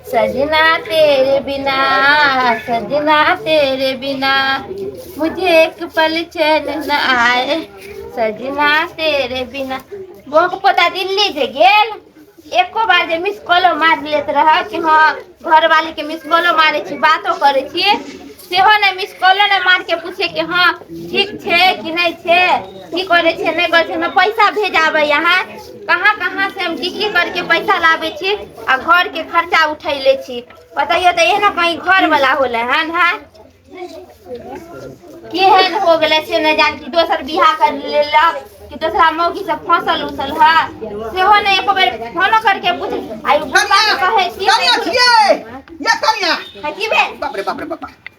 सजना तेरे बिना सजना तेरे बिना मुझे एक पल चैन न आए सजना तेरे बिना बौक पोता दिल्ली जे गेल एको बार जे मिस कॉलो मार लेत रह कि हाँ घर वाली के मिस कॉलो मारे छी बातो करे छी सेहो ने मिस कॉलो ने मार के पूछे कि हाँ ठीक छे कि नहीं छे की करे छे नहीं करे छे ना पैसा भेजाबे यहाँ कहाँ कहाँ से हम की की करके पैसा लाबै छी आ घर के खर्चा उठै ले छी बतैयो तऽ एहनो कहीं घर वाला होले हन है केहन हो गेलै से नहि जान कि दोसर बियाह कर लेलक कि दोसरा मौगी से फसल उसल है सेहो नहि एको बेर फोनो करके पूछ आइ पप्पा के कहै छी कनिया छियै या कनिया है की भेल बाप रे बाप रे बाप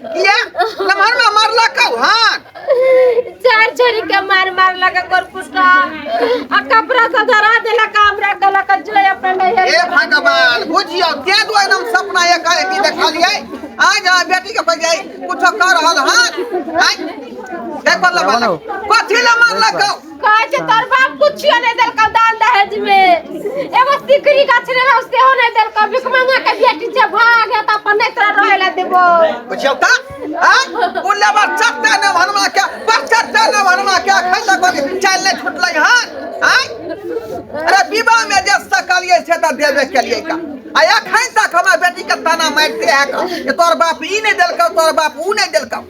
किया लमहर में मार लकौ हां चार छोरी के मार मार लगा कर पुष्टा आ कपड़ा से धरा देला कामरा गला का जो अपना नहीं हे है भगवान बुझियो ते दो एकदम सपना ये कहे की देखलिए आज आ बेटी के पर जाई कुछ कर रहल हां हां देख बल्ला बल्ला कथी ला मार लकौ कहै छै तोर बाप कुछियो नहि देलकौ दान दहेज मे एगो सिकरी गाछ रहौ सेहो नहि देलकौ भिकमंगा के बेटी छै भाग हे तऽ अपन नहि तोरा रहै लए देबो बुझियौ तऽ आँय? ओ लेबर चट्टे ने भरमा के बड़ चट्टे ने भरमा के एखन तक ओकरे चालि नहि छुटलै हन आँय? अरे विवाह मे जे सकलियै से तऽ देबे केलियै का आ एखन तक हमरा बेटी के ताना मारिते है का जे तोर बाप ई नहि देलकौ तोर बाप ऊ नहि देलकौ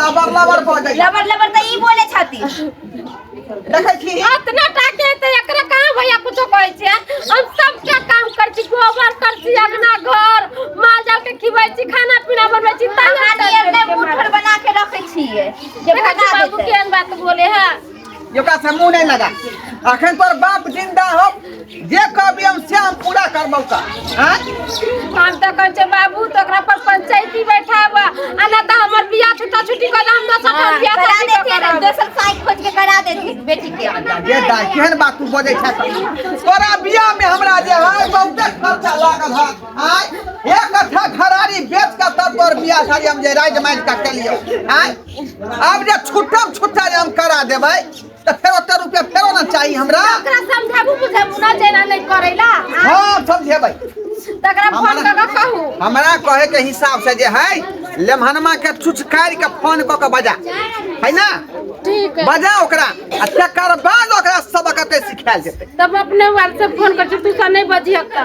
लबर लबर भऽ जाइ लबर लबर तऽ ई बोले छथि देखै छी इतना टाके ते एकरा कहां भैया कुछो कहै छै हम सब के काम कर छी गोबर कर छी अंगना घर माल जाल के खिबै छी खाना पीना बनबै छी तैयार अपना नियर नहि मुठर बना के रखे छियै जे देखै छी भगा बाबू देतै केहन बात बोले है ओकरा से मुँह नहीं लगा अखन तोर बाप जिंदा हो जे कहबी हम से हम पूरा करबौ का हाँ? हम तो कह छे बाबू तो ओकरा पर पंचायती बैठाब आ ना तो हमर बियाह छुट्टा छुट्टी कर हम ना सब हाँ, बियाह करा शादी देते करब। दोसर साइड खोज के करा देते बेटी के ये दा केहन बात तू बजै छै सब? तोरा बियाह में हमरा जे है बहुते खर्चा लागल है आय एक कट्ठा घरारी बेच के तब तोर बियाह शादी हम जे राज माज के केलियो आय आब जे छुट्टा छुट्टा जे हम करा देबै तऽ फेर ओते रुपया फेरो ने चाही हमरा तकरा समझाबू बुझाबू ना जेना नहीं करेला हाँ, हँ समझेबै तकरा फोन हमरा- करके कहू हमरा कहे के हिसाब से जे है लेमहनमा के छुचकारि के फोन कऽ के बजा है ना ठीक है बजा ओकरा आ तकर बाद ओकरा सबक के सिखायल जेतै तब अपने व्हाट्सएप फोन कर तू सा नहीं बजिया का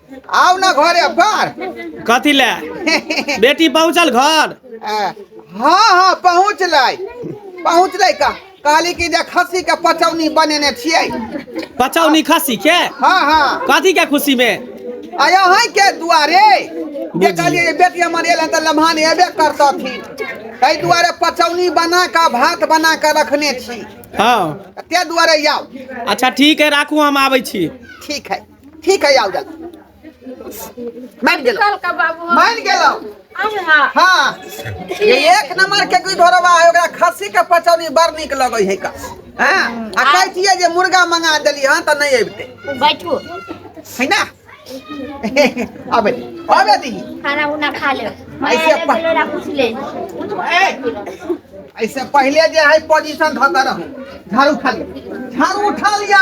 आउ ने घरे अब घर कथी ले बेटी पहुँचल घर हाँ हाँ पहुँच लै पहुँच लै का कहली कि जे खस्सी के पचौनी बनेने छियै पचौनी खस्सी के हाँ हाँ कथी के खुशी में आया है के दुआरे जे कहलियै जे बेटी हमर एलै तऽ लम्हान एबे करतथिन ताहि दुआरे पचौनी बना कऽ भात बना कऽ रखने छी हाँ ताहि दुआरे आउ अच्छा ठीक है राखू हम आबै छी ठीक है ठीक है आउ जाल मान गेल कल का बाबू मान गेलौ आवे हा हाँ ये एक नंबर के कोई धोरवा है ओकरा खस्सी के पचौनी बड़ नीक लगै है का हाँ आ कहै छियै जे मुर्गा मंगा देली हँ तऽ नहि अबिते बैठू है ना अबे अबे दी खाना उना खा ले ऐसे ऐसे पा- बोलो कुछ ले ऐसे पहले जे है पोजीशन धऽ के रहू झाड़ू खा लिया झाड़ू उठा लिया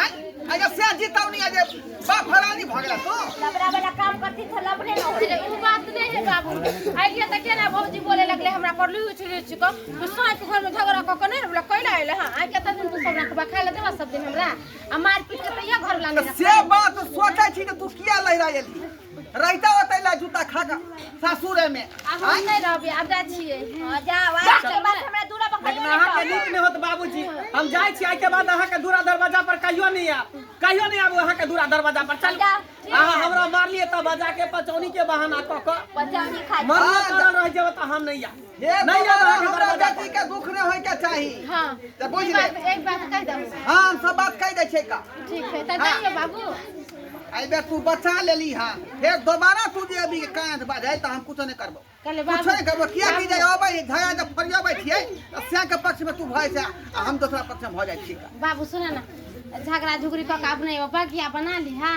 आय आय जे से जीतौनी आ जे बाप हरानी भ गेला तो लबड़ा वाला काम करती तो लबड़े न होती अरे वो बात नहीं है बाबू आइए तो क्या ना भौजी बोले लगले हमरा पर लू छिड़े छिको तू साथ घर में झगड़ा क के नहीं हमरा कोइला आइले हां आ के दिन तू सब रखबा खा ले देबा सब दिन हमरा आ मार पीट के तैया घर वाला तो नहीं से बात सोचै छी जे तू किया लहरा एली रहिता होतै ला जूता खा के सासुरे में आब हम नहि रहबै आब जाइ छियै हँ, जाउ आइ के बाद हमरा दूरा पर लेकिन कहियो अहाँ के नीक नहि होत बाबूजी हम जाइ छी आइ के बाद अहाँ के दूरा दरवाजा पर कहियो नहीं आब कहियो नहीं आबू अहाँ के दूरा दरवाजा पर चल जा, ठीक अहाँ है। हमरा मारलिए तब बजा के पचौनी के बहाना क के पचौनी खा मरले हाँ, जा। करल रह जेब त हम नहीं आब हे नहीं याद रखे हमरा बर्बाद। बेटी के दुख न होय के चाही हाँ तऽ बुझ एक ले। बात एक बात कहि दम हां हम सब बात कह दै छै का ठीक है तऽ हाँ। जाइयो बाबू एहि बेर तू बचा लेली हां फेर दोबारा तू जे अभी कांध बाजै तऽ हम कुछो नहि करबो कहले कुछो बाबू नहि करबो किया की जे अबै धया जे फरियाबै छियै तऽ सैह के पक्ष में तू भय छै आ हम दोसरा पक्ष में भऽ जाइ छी का बाबू सुन ना झगड़ा झुगड़ी कऽ के अपने एगो बगिया बना ली हाँ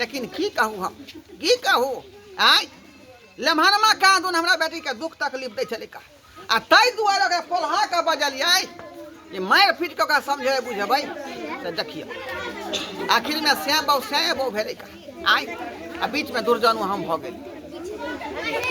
लेकिन की कहू हम की कहू आय लम्हरमा कहाँ दून हमरा बेटीके दुख तकलीफ दै छलै आ ताहि दुआरे ओकरा पोल्हा कऽ बजलियै जे मारि पीट कऽ ओकरा समझेबै बुझेबै तऽ देखियौ आखिरमे सैँ बहु सैँ बहु भेलै आय आ बीचमे दुर्जनो हम भऽ गेली